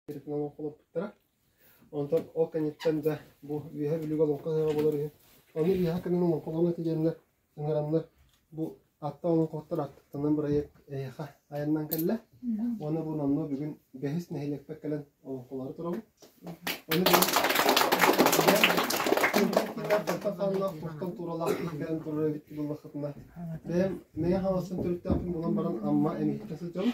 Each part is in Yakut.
олоппуттара. Онтон ол кэнниттэн дьэ бу үөһэ бүлүгэ олоҥхо сыһыаҕа болор үһү. Ону үөһэ кэннин олоҥхолоон этигэннэр, ыҥараннар бу Атта олоҥхоттор аттыктанан бырайыак эйиэхэ айаннаан кэллэ. Уонна бу номнуо бүгүн бэһис нэһилиэкпэ кэлэн олоҥхолору турабыт. Ону бүгүн хааннаах куртан тууралаах кэлэн турар эбит буоллахытына, бэйэм мэйэ хаалсан төрүттээхпин булан баран Амма эмиһиттэ сылдьабын.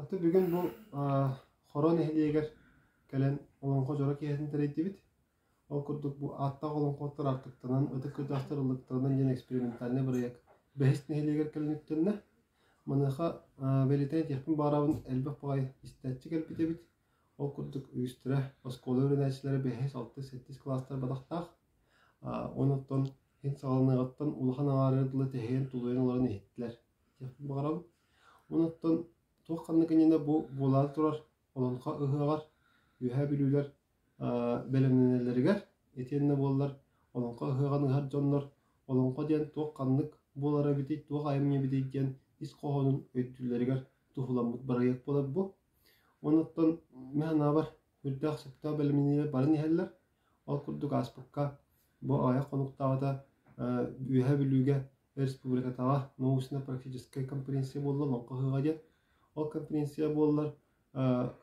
Аты бүгүн бу Хоро нэһилиэгэр кэлэн олоҥхо дьоро киэһэтин тэрийдибит. Ол курдук бу ааттаах олоҥхоттор артыктанан, ытык көтөөхтөр ыллыктарынан диэн экспериментальнай бырайыак бэһис нэһилиэгэр кэлэн үктэннэ. Маныаха бэлиэтээн этиэхпин баҕарабын, элбэх баҕайы истээччи кэлбит эбит. Ол курдук үстэрэ, оскуола үөрэнээччилэрэ бэһис, алтыс, сэттис кылаастар бадахтаах. Онуттан саҕаланыаҕыттан улахан аҥаара дылы тэһийэн тулуйан олорон иһиттилэр. Баҕарабын. Онон туох-ханнык иннинэ бу буолаары турар Олоҥхо ыһыаҕар Үөһээ Бүлүүлэр бэлэмнэнэллэригэр итиэннэ буоллар Олоҥхо ыһыаҕын ыһар дьоннор олоҥхо диэн туох-ханнык буолара эбитий, туох айымньы эбитий диэн ис хоһоонун өйдүүллэригэр туһуламмыт бырайыак буолар бу. Онуттан мин санаабар үрдээх-сөптөөх бэлэмнэниилэр баран иһэллэр. Ол курдук ааспыкка бу аҕыйах хонуктааҕыта Үөһээ Бүлүүгэ Республикатааҕы научно-практическай конференция буолла олоҥхо ыһыаҕа диэн. Ол конференция буоллар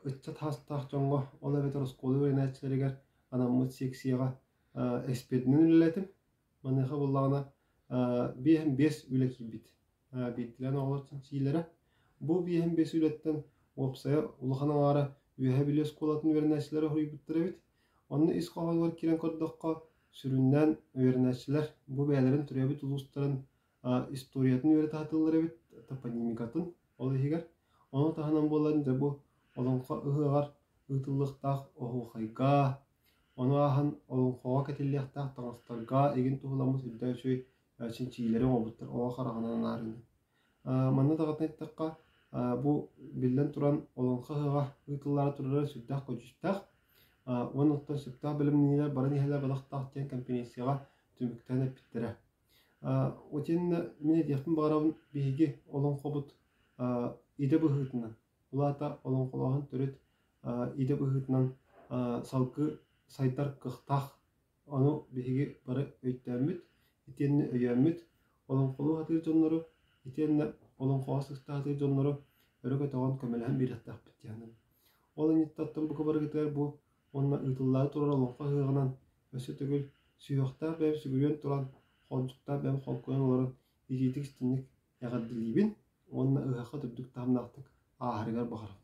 ыччат саастаах дьоҥҥо, ол эбэтэр оскуола үөрэнээччилэригэр анаммыт сиэксийэҕэ эспэдинэн үлэлээтим. Маныаха буоллаҕына биэс эм биэс үлэ киирбит. Биирдэлээн оҕолор чинчиилэрэ. Бу биэс эм биэс үлэттэн уопсайа улахан аҥаара үөһээ бүлүү оскуолатын үөрэнээччилэрэ хоруйбуттар эбит. Онно ис хоһоонугар киирэн көрдөххө, Сүрүннээн үөрэнээччилэр бу бэйэлэрин төрөөбүт улуустарын историятын үөрэтэ сатыыллар эбит, топонимикатын ол иһигэр. Ону таһынан буоллар дьэ бу Олоҥхо ыһыаҕар ыытыллыахтаах оһуохайга, ону ааһан олоҥхоҕо кэтиллиэхтээх таҥастарга игин туһуламмыт үрдэ үчүгэй чинчийиилэри оҥорбуттар оҕо хараҕынан анаарынным Манна даҕатан эттэххэ, бу биллэн туран олоҥхо ыһыаҕа ыытыллаары турара сүрдээх-көдьүүстээх. уонна оттон сөптөөх бэлэмнэниилэр барын иһэлэр бэлэхтаах диэн кэмпириэнсийэҕэ түмүктээн эппиттэрэ. Ол иһиннэ мин этиэхпин баҕарабын биһиги олоҥхобут идэ быһыытынан, ол аата олоҥхолооһун төрүт идэ быһыытынан салгыы сайдар кыахтаах Ону биһиги бары өйдөөммүт, итиэннэ өйөөммүт, олоҥхолуу сатыыр дьоннору, итиэннэ олоҥхоҕо сыстаа сатыыр дьоннору өрө көтөҕөн көмөлөһөн биэриэхтээхпит дьаһанан. Ол анньыттаттан бука барыгытыгар бу уонна ыытыллаары турар олоҥхо ыһыаҕынан өссө төгүл сүһүөхтээх бэйэм сүгүрүйэн туран, холдьуктаах бэйэм холкуйан олорон иитиитик истинник эҕэрдэлиибин уонна ыһыахха үрдүк таһымнаахтык ааһарыгар баҕарабын